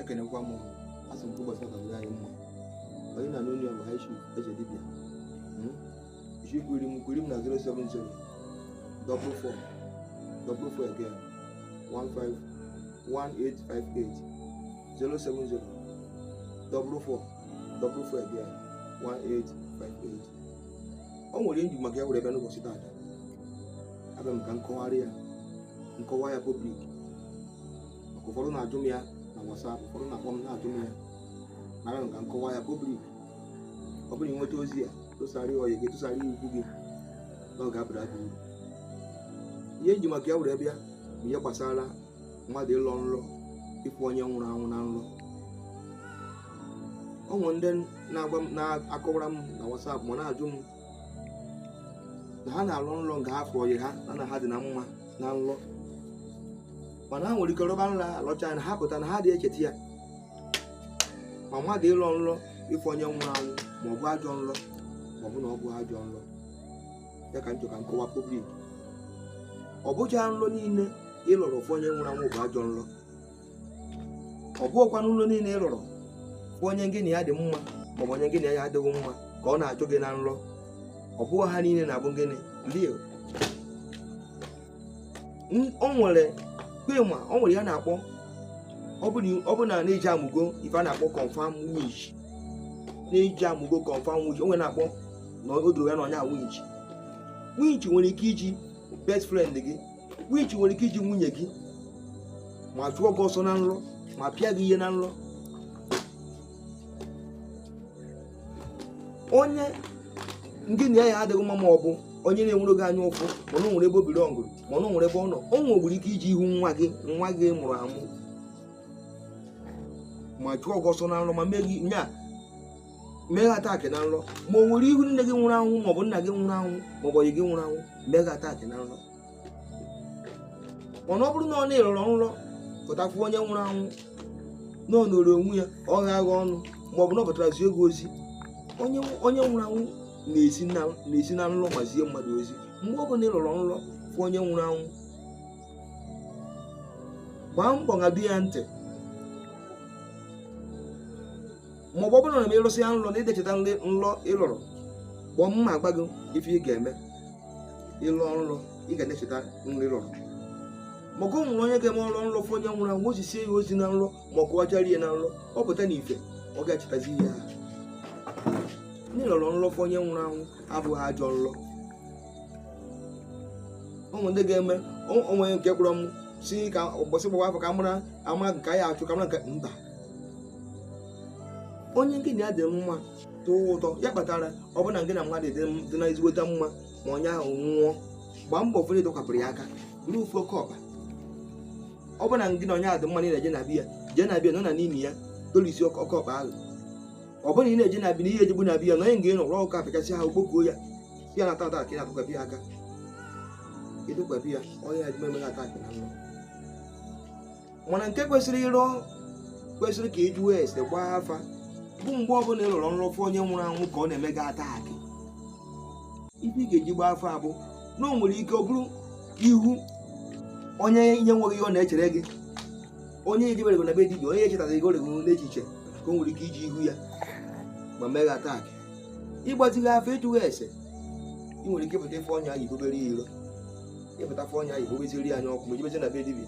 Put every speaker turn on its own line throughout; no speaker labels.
ekenekwa m asị m ụbọchị ọka dịrị anyị mma onye na n'onye bụ high chief eze dibịa isi kwiri m kwiri m na 070 double four double four again 15 1858 070 double four double four again 1858 o nwere ihe m ji maka ya were bịa n'ụbọchị taata abịa m ka m kọwarị ya m kọwaa ya public maka ụfọdụ na-ajụ m ya na WhatsApp ụfọdụ na-akpọ m na-ajụ m ya abịa m ka m kọwaa ya public ọ bụrụ i nweta ozi a tụsara ọyị gị tụsara ikwu gị na ọ ga-abara gị uru ihe m ji maka ya were bịa bụ ihe gbasara mmadụ ịlọ nlọ ịfụ onye nwụrụ anwụ na nlọ o nwere ndị na-agwa m na-akọwara m na WhatsApp ma na-ajụ m na ha na-alọ nlọ nga ha fụ ọyị ha na ha dị na mma na nlọ mana ha nwere ike rọba nlọ a lọcha na ha pụta na ha adị echeta ya ma mmadụ ịlọ nlọ ịfụ onye nwụrụ anwụ ma ọ bụ ajọ nlọ ma ọ bụ na ọ bụghị ajọ nlọ ya ka m chọ ka m kọwaa public ọ bụcha nlọ niile ị lọrọ fụ onye nwụrụ anwụ bụ ajọ nlọ ọ bụghịkwa nlọ niile ị rọrọ fụ onye gị na ya dị mma maọbụ onye gị na ya adịghị mma ka ọ na-achụ gị na nrọ ọ bụghị ha niile na-abụ gịnị real o nwere kpema o nwere ihe a na-akpọ ọ bụ na na-eji amụgo ife a na-akpọ confirm witch na-eji amụgo confirm witch o nwere ihe a na-akpọ na o doro ya na onye a witch witch nwere ike iji best friend gị witch nwere ike iji nwunye gị ma chụọ gị ọsọ na nlọ ma pịa gị ihe na nlọ onye gị na ya adịghị mma ma ọ bụ onye na-enwere gị anya ụfụ mana o nwere ebe o biri ọngụrụ mana o nwere ebe ọ nọ o nwekwuru ike iji ihu nwa gị nwa gị mụrụ amụ ma chụọ gị ọsọ na nlọ ma mee gị nya mee gị attack na nlọ ma o were ihu nne gị nwụrụ anwụ maọbụ nna gị nwụrụ anwụ maọbụ ọyị gị nwụrụ anwụ mee gị attack na nlọ mana ọ bụrụ na ị rọrọ nlọ pụta fụ onye nwụrụ anwụ na ọ nọrọ onwe ya ọ gha agha ọnụ maọbụ na ọ pụtara zie gị ozi onye onye nwụrụ anwụ na-esi na na-esi na nlọ ma zie mmadụ ozi mgbe ọ bụla ị rọrọ nlọ fụ onye nwụrụ anwụ gbaa mbọ ṅabe ya ntị ma ọ bụ ọ bụrụ na ị rọsịa nlọ na ị dị echeta nlọ ị lọrọ kpọọ m ma agwa gị ife ị ga-eme ị lọ nlọ ị ga na-echeta nlọ ị lọrọ maka o nwere onye ga-eme ọ rọ nlọ fụ onye nwụrụ anwụ o zisie ya ozi na nlọ ma ọ kọwachara ya na nlọ ọ pụta na ife ọ ga-echetazi ihe ahụ na ị lọrọ nlọ fụ onye nwụrụ anwụ abụghị ajọ nlọ ụmụ ndị ga-eme o nwe nke kpọrọ m si ka ụbọchị gbawa afa ka mara ama nke anyị achụ ka mara nke mba onye gị na ya dị mma tọọ ụtọ ya kpatara ọ bụrụ na gị na mmadụ dị m- dị na ezigbote mma ma onye ahụ nwụọ gbaa mbọ fere tọkwapụrụ ya aka buru ofu oke ọkpa ọ bụrụ na gị na onye ahụ dị mma na ị na-eje na be ya jee na be ya nọ na n'ime ya dolisi oke oke ọkpa ahụ ọ bụrụ na ị na-eje na be ya na ihe ejebu na be ya na onye nga ịnọ rụọ ụka apịchasị ahụ kpokuo ya ya na tata ka ị na-atọkwapụ ya aka ị tọkwapụ ya onye ya dị mmemme ataakị na nlọ mana nke kwesịrị ịrụ kwesịrị ka ị jụọ ese gbaa afa bụ mgbe ọbụla ị rọrọ nrọ fụ onye nwụrụ anwụ ka ọ na-eme gị ataakị ife ị ga-eji gbaa afa bụ na o nwere ike ọ bụrụ ihu onye enweghị ihe ọ na-echere gị onye ejebere gị na be dibịa onye echetaghị gị oregoro n'echiche ka o nwere ike iji ihu ya ma mee gị ataakị ị gbazighị afa ị jụghị ese ị nwere ike ịpụta ị fụ onye ahụ i bubere ya iro ịpụta ị fụ onye ahụ i bubeziri ya anya ọkụ ma ejebezi na be dibịa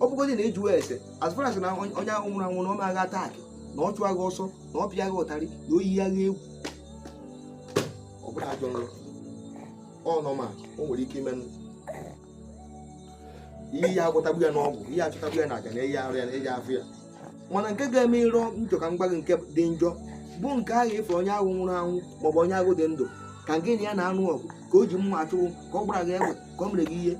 ọ bụgodị na ị jụwa ese as far as na onye onye ahụ nwụrụ anwụ na ọ mee gị atak na ọ chụọ gị ọsọ na ọ pịa gị ụtarị na o yie gị egwu ọ bụrụ ajọ nrọ ọ nọ ma o nwere ike ime ihe ya agwọtagbu ya n'ọgwụ ihe achụtagbu ya na aja na eyi arụ ya na eji afụ ya mana nke ga-eme ị rọ nrọ ka m gwa gị nke dị njọ bụ nke ahụ ị fụ onye ahụ nwụrụ anwụ maọbụ onye ahụ dị ndụ ka gị na ya na-anụ ọgụ ka o ji mma achụ gị ka ọ gbara gị egbe ka ọ mere gị ihe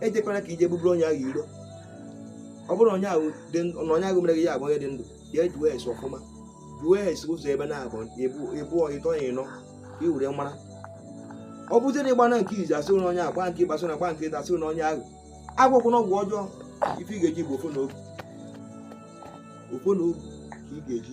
ejekwana ka i je buburu onye ahụ iro ọ bụrụ onye ahụ dị ndụ na onye ahụ mere gị ya abụ onye dị ndụ ya jụọ ese ọfụma jụọ ese ụzọ ebe naabọ ebe ịtọ ebe ịnọ ka ị were mara ọ bụzie na ị gbaa na nke izizi a sị gị na onye ahụ gba nke ịbụa sị na gba nke ịtọ a sị gị na onye ahụ agwọkwa na ọgwụ ọjọọ ife ị ga-eji bụ ọfọ na ogu ọfọ na ogu ka ị ga-eji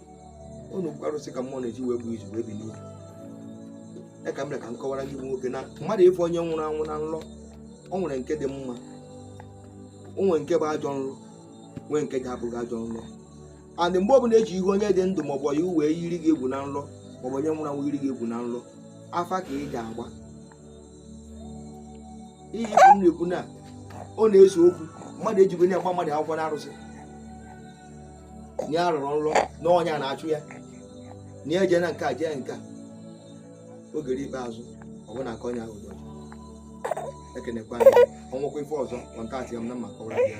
unu bụkwa arụsị ka mmụọ na-eji wee gbuo izu wee bi n'ubi ya ka m ka m kọwara gị nwoke na mmadụ ịfụ onye nwụrụ anwụ na nlọ o nwere nke dị mma o nwere nke bụ ajọ nlọ nwee nke ga-abụghị ajọ nlọ and mgbe ọbụla e ji ihu onye dị ndụ maọbụ ya wee yiri gị egwu na nlọ maọbụ onye nwụrụ anwụ yiri gị egwu na nlọ afa ka ị ga-agba ihe ị fụ m na-ekwu na ọ na-ese okwu mmadụ ejigo ya gbaa mmadụ akwụkwọ na arụsị na ya rọrọ nlọ na onye a na-achụ ya na ya jee na nke a jee nke a o jee ruo ikpeazụ ọ bụ na aka onye ahụ dị ọcha ekenekwa ya o nwekwa ife ọzọ kọntaktịa m na m ma akọwara gị ya